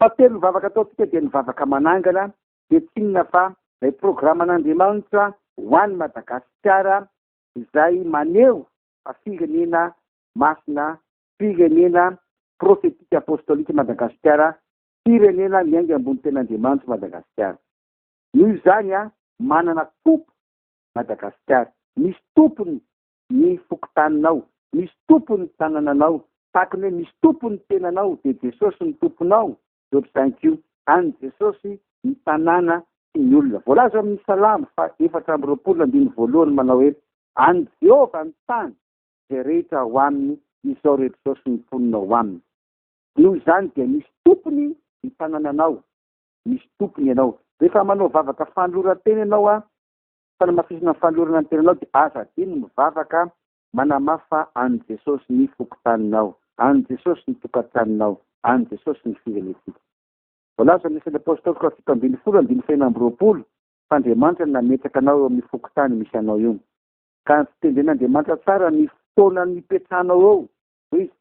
Fahatelo ny vavaka ataontsika dia ny vavaka manangana dia tsy inona fa ilay programan'Andriamanitra ho an'i Madagasikara izay maneho fa firenena masina, firenena prophetique apostolique Madagasikara, firenena miainga ambony ten'Andriamanitra Madagasikara. Noho izany, manana Tompo Madagasikara, misy Tompony ny fokontaninao, misy tompony ny tanananao, tahaka ny hoe misy tompony ny tenanao dia Jesosy no tomponao, Job cinq io, an'ny Jesosy ny tanàna sy ny olona. Voalaza ao amin'ny Salamo faha efatra amby roapolo andininy voalohany manao hoe, An'i Jehovah ny tany izay rehetra ao aminy, izao rehetra izao sy ny mponina ao aminy. Noho izany dia misy tompony ny tanananao, misy tompony ianao. Rehefa manao vavaka fanoloran-tena ianao, Fanamafisana ny fanolorana ny tenanao dia aza adino mivavaka manamafy fa an'i Jesosy ny fokontaninao, an'i Jesosy ny tokantranonao, an'i Jesosy ny firenentsika. Voalazan'ny Asan'ny Apôstôly faha fito ambin'ny folo andininy faha enina amby roapolo fa Andriamanitra no nametraka anao eo amin'ny fokontany misy anao io. Ka antitendren'Andriamanitra tsara ny fotoana nipetrahanao eo, hoy Izy.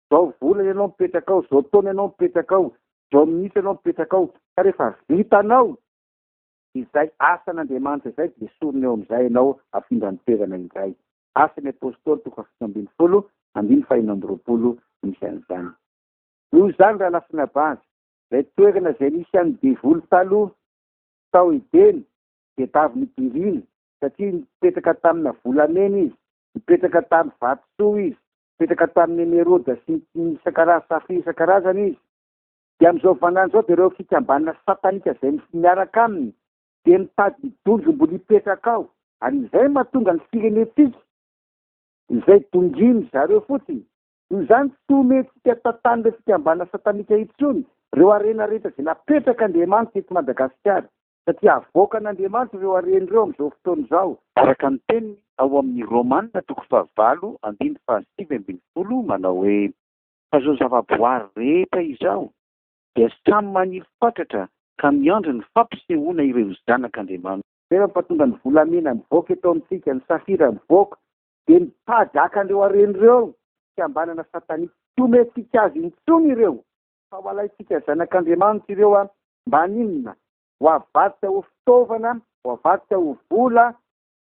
Zao volana ianao mipetraka ao, zao taona ianao mipetraka ao, zao minitra ianao mipetraka ao, ka rehefa vitanao, Izay asan' Andriamanitra izay dia esorina eo amin'izay ianao afindra ny toerana indray. Asan' ny Apôstôly toko fahafito ambin'ny folo, andininy fahenina amby roapolo no misy an'izany. Noho izany raha lasin'abavy, izay toerana izay nisy an'ny devoly taloha tao Edena dia tavy nodiriana, satria nipetraka tamina volamena izy, nipetraka tamin'ny vatosoa izy, nipetraka tamin'ny emerôda sy ny safira isan-karazany izy. Dia amin'izao vaninandro izao dia ireo fikambanana satanika izay miaraka aminy dia mitady donjom-bola hipetraka ao, ary izay mahatonga ny firenentsika izay dongin-dry zareo fotsiny. Noho izany tsy homentsika tantan'ireo fikambanana satanika intsony ireo harena rehetra izay napetrak'Andriamanitra eto Madagasikara, satria havoakan'Andriamanitra ireo harena ireo amin'izao fotoana izao. Araka ny teniny ao amin'ny Romana toko fahavalo andininy fahasivy ambin'ny folo manao hoe. fa izao zavaboary rehetra izao dia samy maniry fatratra ka miandry ny fampisehoana ireo zanak'Andriamanitra. Rehefa mpahatonga ny volamena mivoaka eto amintsika, ny safira mivoaka, dia ny mpahajakan'ireo harena ireo, fikambanana satanika, tsy omentsika azy intsony ireo, fa ho alaintsika zanak'Andriamanitra ireo an, mba haninona? Ho avadika ho fitaovana, ho avadika ho vola,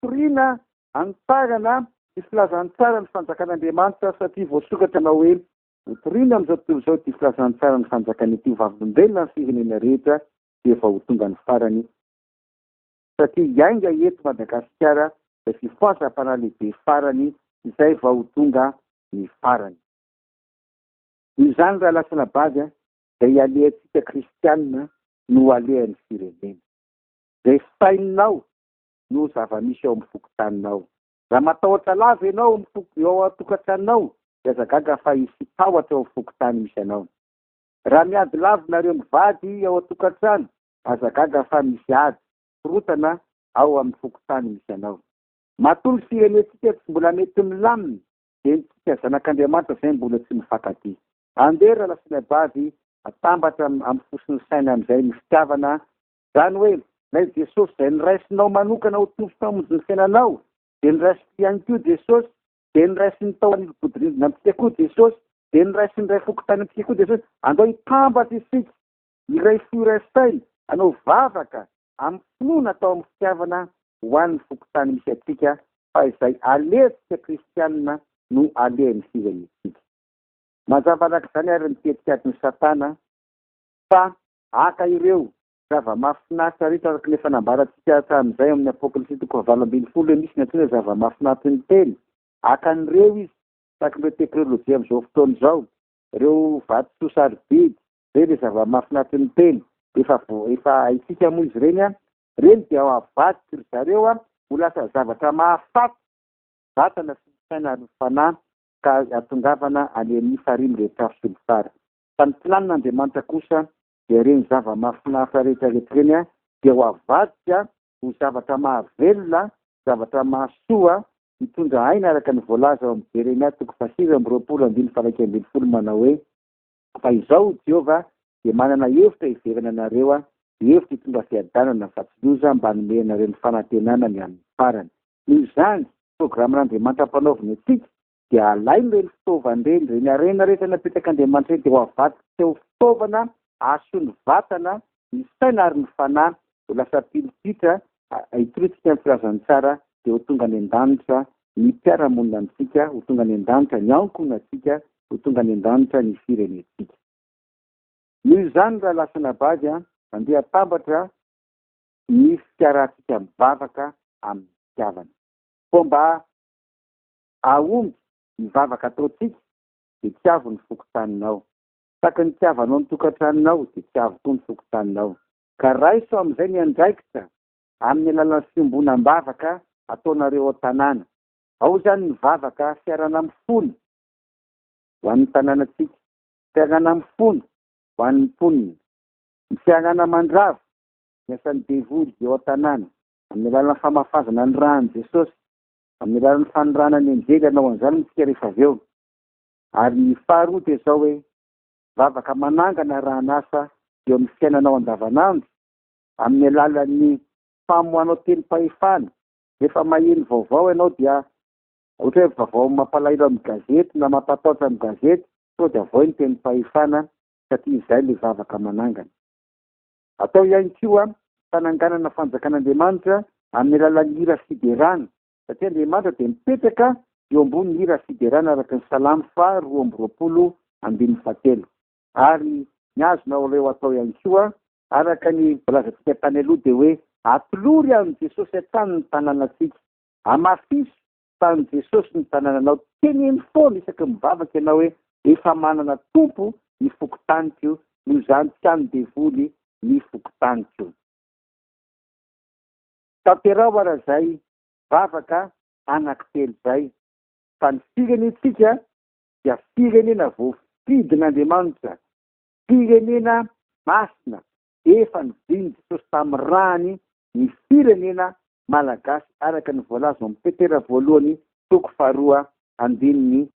Toriana hanitarana ny filazantsara ny fanjakan'Andriamanitra satria voasokatra na hoe Hotoriana amin'izao tontolo izao ity filazantsara ny fanjakany ity ho vavolombelona ny firenena rehetra sy efa ho tonga ny farany satria hiainga eto Madagasikara izay fifohazam-panahy lehibe farany izay vao ho tonga ny farany. Noho izany raha lasana bavy izay ialehantsika kristianina no alehan'ny firenena. Izay sainao noho zava-misy ao amin'ny fokontaninao. Raha matahotra lava ianao amin'ny foko eo an-tokantranonao, dia aza gaga fa hisy tahotra eo amin'ny fokontany misy anao. Raha miady lava nareo mivady ao an-tokantrano, aza gaga fa misy ady, korontana, ao amin'ny fokontany misy anao. Matoa ny firenentsika tsy mbola mety milamina, dia isika zanak'Andriamanitra izay mbola tsy mifankatia. Andeha ry lahy sy lahy vavy, atambatra amin'ny fosin'ny saina amin'izay ny fitiavana Izany hoe, ilay Jesosy izay noraisinao manokana ho Tompo Mpamonjy ny fiainanao, dia noraisin'ity ihany koa Jesosy, dia noraisin'ny tao anivobodorindrina amintsika koa Jesosy, dia noraisin'ny iray foko tany amintsika koa Jesosy. Andao hitambatra isika, iray fo iray saina, hanao vavaka amin'ny finoana atao amin'ny fitiavana ho an'ny fokontany misy antsika, fa izay alehontsika kristianina no alehan'ny firenentsika. Manjavalaky izany ary ny tetikadin'i Satana fa Haka ireo zava-mahafinaritra rehetra araka ny efa nambarantsika hatramin'izay ao amin'ny Apokalypsy toko fahavalo ambin'ny folo hoe misy ny antsoina hoe zava-mahafinaritra ny teny. Haka an'ireo izy, tahaka ireo tekrolojia amin'izao fotoana izao, ireo vatosoa sarobidy. Izay ilay zava-mahafinaritra ny teny. Efa vo, efa haintsika moa izy ireny an. Ireny dia ho avadik'i ry zareo an, ho lasa zavatra mahafaty ny vatana sy ny saina ary ny fanahy ka hahatongavana any amin'ny farihy mirehatr'afo sy ny farany. fa ny planin'Andriamanitra kosa dia ireny zava-mahafinaritra rehetrarehetra ireny dia ho avadika ho zavatra mahavelona, zavatra mahasoa, hitondra aina araka ny voalaza ao amin'ny Jeremia toko fahasivy amby roapolo andininy faha-iraika ambin'ny folo manao hoe, Fa izao hoy Jehovah, dia manana hevitra hiverana ianareo, hevitra hitondra fiadanana fa tsy loza, mba hanome anareo ny fanantenana ny amin'ny farany. Noho izany, programan'Andriamanitra ampanaoviny antsika dia alainy ireny fitaovana ireny, ireny harena rehetra napetrak'Andriamanitra ireny dia ho avadika ho fitaovana hahasoan'ny vatana, ny saina ary ny fanahy, ho lasa pilipitra hitorisika ny filazan'ny tsara, dia ho tonga any an-danitra ny mpiara-monina amintsika, ho tonga any an-danitra ny ankohonantsika, ho tonga any an-danitra ny firenentsika. Noho izany raha lasana bavy an, mandeha atambatra ny fikarantsika mivavaka amin'ny fitiavana. Koa mba Aomby, ny vavaka ataontsika dia tsy avo ny fokontaninao. Saky ny itiavanao ny tokantranonao dia tsy avo koa ny fokontaninao. Ka raiso amin'izay ny andraikitra amin'ny alalan'ny fiombonam-bavaka ataonareo ao an-tanàna. Ao izany ny vavaka fiarana-mifono ho an'ny tanànantsika, fiarana-mifono ho an'ny mponina, ny fiarana-mandrava ny asan'ny devoly eo an-tanàna amin'ny alalan'ny famafazana ny ran'i Jesosy Amin'ny alalan'ny fanirahana ny anjely hanao an'izany moa isika rehefa avy eo. Ary ny faharoa dia izao hoe, vavaka manangana arahan'asa eo amin'ny fiainanao andavanandro, amin'ny alalan'ny famoahanao tenim-pahefana. Rehefa maheno vaovao ianao dia ohatra hoe vaovao mampalahelo amin'ny gazety na mampatahotra amin'ny gazety, sao dia avoy ny tenim-pahefana satria izay ilay vavaka manangana. Atao ihany koa fananganana fanjakan'Andriamanitra amin'ny alalan'ny hira fiderana, satria Andriamanitra dia mipetraka eo ambony hira fiderana araka ny Salamo faha roa amby roapolo ambin'ny fahatelo. Ary ny azonao ireo atao ihany koa, araka ny voalazantsika tany aloha, dia hoe atolory an'i Jesosy hatrany ny tananantsika, amafiso Tsaroan'i Jesosy ny tanananao. Teneno foana isaky ny mivavaka ianao hoe, Efa manana tompo ny fokontaniko, noho izany tsy an'ny devoly ny fokontaniko. Tanteraho ara izay vavaka anankitelo izay, fa ny firenentsika dia firenena voafidin'Andriamanitra, firenena masina, efa nivily Jesosy tamin'ny rany ny firenena Malagasy araka ny voalaza ao amin'ny petera voalohany toko faharoa andininy faha.